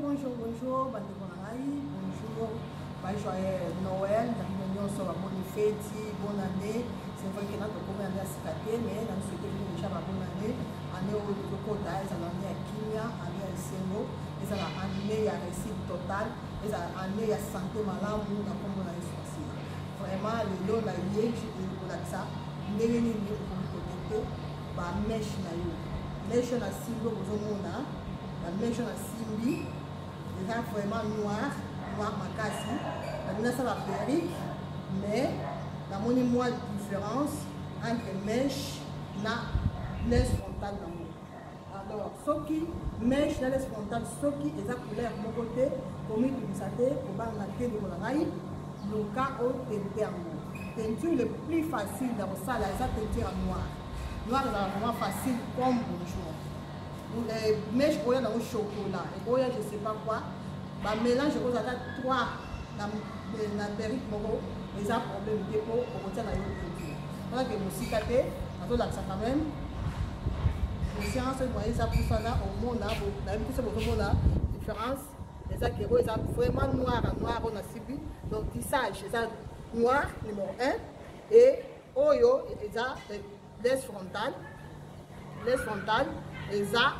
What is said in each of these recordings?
Bonjour, bonjour, bandeko na ngai, bonjour, ba joyeux Noël, na bino nyonso ba boni feti, bonne année. C'est vrai que na tokomi année ya sika te, mais na souhaite bino déjà ba bonne année. Année oyo tokokota ezala année ya kimia, année ya esengo, ezala année ya réussite totale, ezala année ya santé malamu na kombo na Yesu Masiya. Vraiment lelo na ye kolakisa ndenge nini okoki kotekte ba meshe na yo. Meshe na simbo bozomona ba mejo na simbi eza vraiment noir noir makasi nalingi nasala perrique mais namoni mwa différence entre meche na laisse frontale nango alors soki meche na laisse frontale soki eza couleur moko te komitungisa te kobanga te ndeko na ngai luka otente yango teinture le plus facile ya kosala eza teinture ya noire noire ezala vraiment facile comme bonjour eh, mèche oya nango chocolat ekoya je sais pas quoi bamélange okoza ata 3 eh, na perike moko eza problème te mpo okotia na yo produit alake mosika te azolakisa quand même conscience moye eza pusana omona nayebi biso bozomona différence eza kero eza vraiment noir a noir oyo nasibi donc tissage eza noir numéro 1 et oyo eza Les frontales, les frontales eza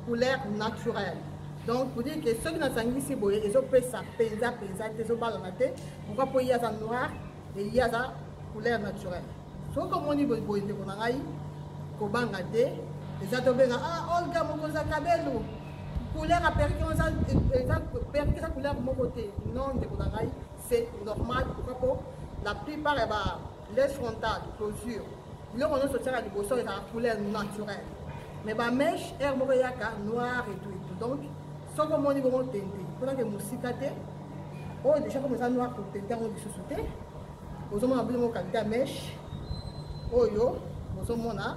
couleur naturelle. Donc pour dire que soki nasangisi boye ezopesa mpenza mpenza te ezobalana te pourquoi mpo ye aza noir e ye aza couleur naturelle soki omoni boye ndeko na ngai kobanga te eza tobenga ah olga mokonzi ya kabelu couleur aperike perike eza couleur moko te non ndeko na ngai c'est normal pourquoi mpo la plupart ya ba les frontales closure biloko nyonso otiaka liboso ezalaka couleur naturelle mais bameshe aire moko eyaka noir etout etout donc soki omoni bongo tente mponake mosika te oyo oh, deja comme eza noir kotente yango lisusu te ozomona bino moko kalite ya meshe oyo bozomona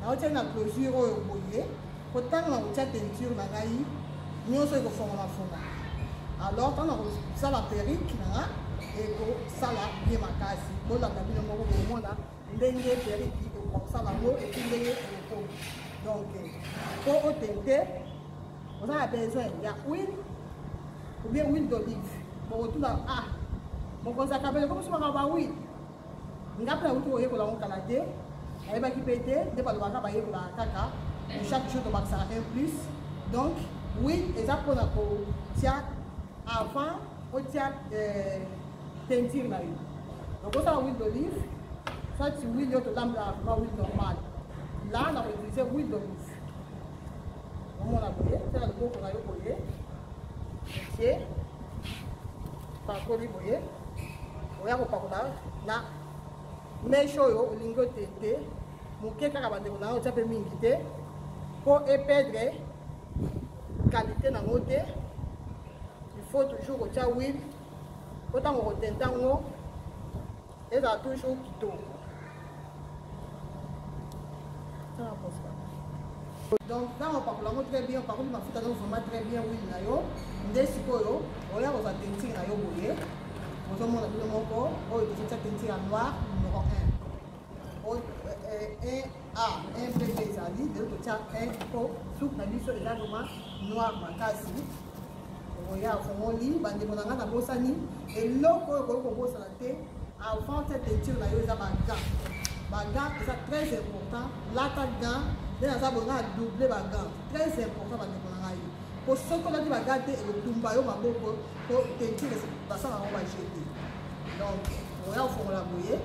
naotia na closure oyo boye po ntango nakotia teinture na ngai nyonso ekofongamafonga alors ntango nakosala perike na nga ekosala ye makasi bolanda bino moko komona ndenge perike ekokosala yango eki ndenge eloko donc po otente oza na besoin ya huile ou bien huile d'olive bokotuna ah mokonzi akabele komosomaka ba huile nga mpe nauti koyekola yango kala te ayebaki mpe te nde balobaka bayekolaka kaka chaque jour tobakisaka un plus donc oui eza mpona kotia avant otia euh, teinture na yo donc osala huile d'olive soit huile oyo tolambelaka vraimen huile normale là na koutilize huile d'olive omona boye mpe na loboko na yo boye otie pakoli boye oya kopakola na meshe oyo olingi ote te moke kaka bandeko na yo otya mpe mingi te mpo epedre kalite na yango te il faut toujours kotya wile mpo ntango kotenta yango Eza toujours kitoko. donc ntango opakola yango très bien opakoli mafuta donc vraiment très bien wili na yo nde sikoyo oya kozwa tentire na yo boye ozomona bino moko oyo tozotia tentire ya noir numero 1 Ah, un peu des amis, de l'autre tiers, un peu, tout na biso est là vraiment noir makasi. Oya fongoli, bande mon angana bosani, et l'autre oyo koko bosana te, avant cette étude na yo eza ba gants. Ba gants eza très important, lata gants, nde naza bonga double ba gants, très important bande mon angana yo. Po soki olati ba gants te, ekotumba yo maboko, po teinture basala yango ba jeter. Donc, oya fongola boye,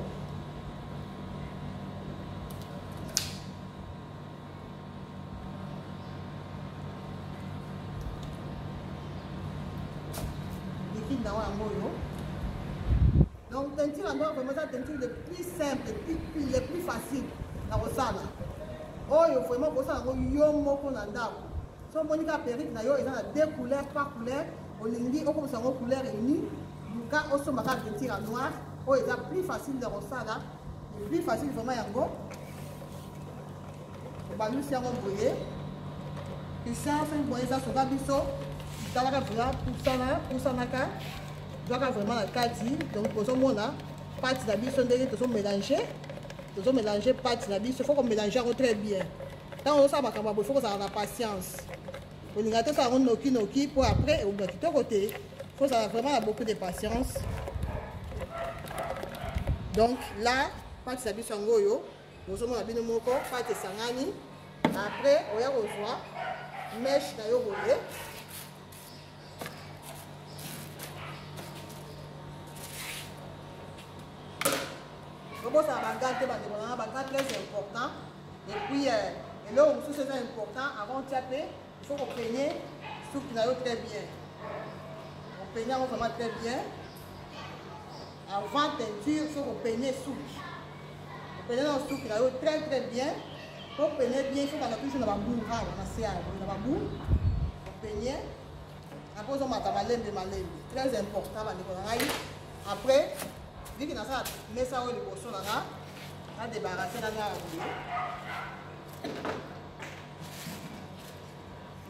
liquide na yango oyo donc teinture yango vraiment eza teinture le plus simple le plus facile na kosala oyo vraiment kosala yango yo moko na ndako so omoni ka perike na yo eza na deux couleur par couleur olingi okomisa yango couleur uni luka osomba kaka peinture ya noir oyo eza plus facile ya kosala plus facile vraiment yango obalusi yango boye puissance boye eza soka biso talaka vrema pusana pusanaka zwaka vraiment na kati donc ozomona pati na biso ndenge tozomélange tozomélange pati na biso fo komélange yango très bien ntango ozosala makambo ya boye fo kozala na patience olinga tosala yango noki noki mpo après ekoba kitoko te fozala vraiment na beaucoup de patience donc là pati na biso yango oyo bozomona bino moko pati esangani après oya kozwa meshe na yo boye obosana baga te bandeko nanga baga très important et puis euh, eloko mosusu eza important avant tia mpe il faut kopenye suki na yo très bien openye yango vraiment très bien avant teinture faut kopenye suki openye na suki na yo très très bien po penye bien faut kanda toujours na babour rara na se yango na babour openye après ozomata malembe malembe très important bandeko na ngai après viki nasala mesa oyo liboso na nga Na débarrasser na nga boye.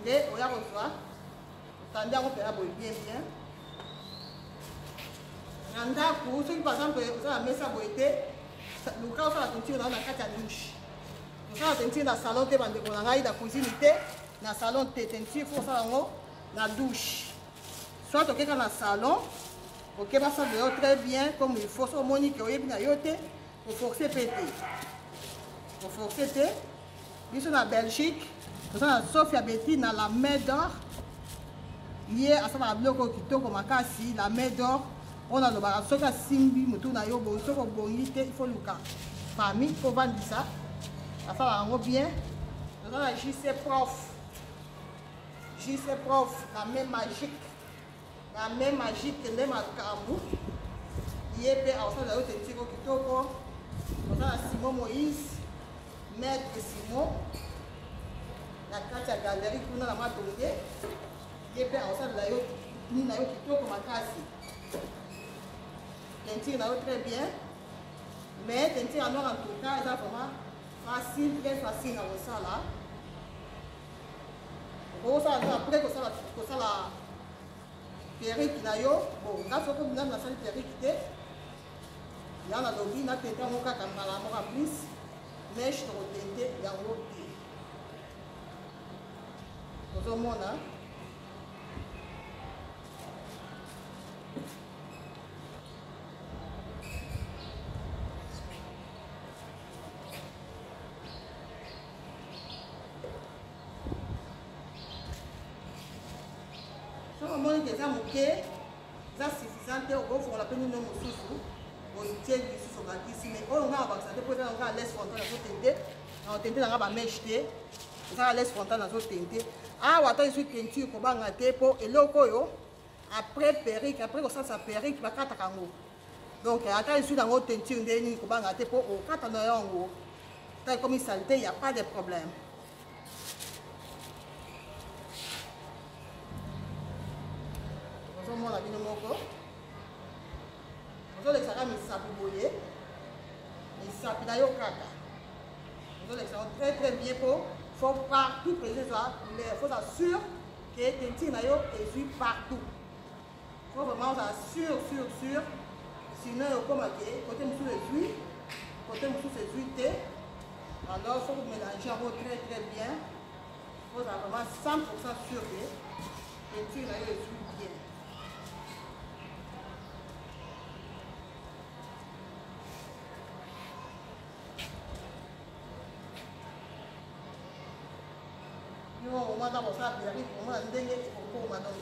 Nde oya kozwa otandi yango mpela boye bien bien na ndako soki par exemple oza na mesa boye te luka osala tentire na yo na kati ya douche osala tentire na salon te bandeko na ngai na cuisine te na salon te tentire fo osala yango na douche soit okeka na salon okeba sale de yo très bien comme il faut so omoni ke oyebi na yo te oforce mpe te oforce te biso na belgique toza na sofia beti na la main d'or ye asalaka biloko kitoko makasi la main d'or oyo nalobaka soki asimbi motu na yo bongi soki obongi te ifo luka fami ovandisa asalaka yango bien toza na jc prof JC prof na main magique na main magique nde makambo ye mpe akosala yo tetiko kitoko ozala simon moïse maître simon na kati ya galerie kuna na matonge ye mpe akosalela yo nini na yo kitoko makasi tentire na yo très bien mais tentire ya noir en tout cas eza vraiment facile très facile na kosala okosala nde apres kosala kosala perike na yo bo nga soko nanu nasali perike te nga nalobi natente yango kaka mbala moko en plus meshe tokotente yango te ozomona soki omoni te eza moke eza suffisant te okofongola mpe nino mosusu otie lisusu bakisi mai oyo ngai abakisa te mpo eza na ngai alese frontal nazotente na otente na ngai bameshe te eza alese frontal nazotente awa ata ezwi peinture kobanga te mpo eloko oyo après perruque après kosalisa perruque bakataka yango donc ata esui nango teinture ndenge nini kobanga te mpo okata na yo yango ta ekomi salite ya pas de problème ozomona bino moko ozolekisaka misapi boye misapi na yo kaka ozolekisa yango très très bien mpo faut partout présence ya couleur faut asure ke teinture na yo ezwi partout Faut vraiment ozala sur sur sur sinon ekoma ke kote mosusu ezwi kote mosusu ezwi te alors faut komélange yango très très bien ozala vraiment 100 pourcent sur ke peinture na yo ezwi bien yo omata kosala perruque omona ndenge ekokoma donc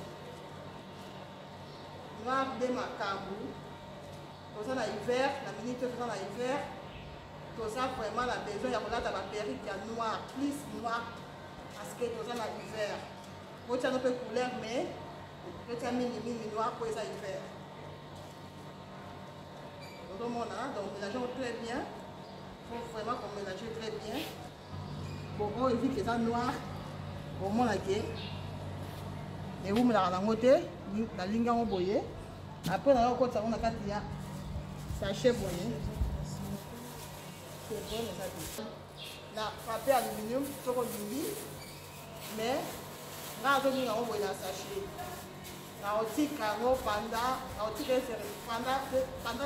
grave nde makambo toza na hiver na minute oyo toza na hiver toza vraiment na besoin ya kolata baperike ya noir plus noir parce que toza na hiver botyano mpe couleur mais totya mingi mingi noir mpo eza hiver ozomona donc mélangeons très bien faut vraiment qu'on mélange très bien oyo vitre eza noir omona ke ewumelaka nango te nalingi yango boye apres nayo okotisa yango na kati ya sachet boye na papier aluminium soko olingi mais nga azolinga yango boye na sachet naotika yango panda naotika esere panda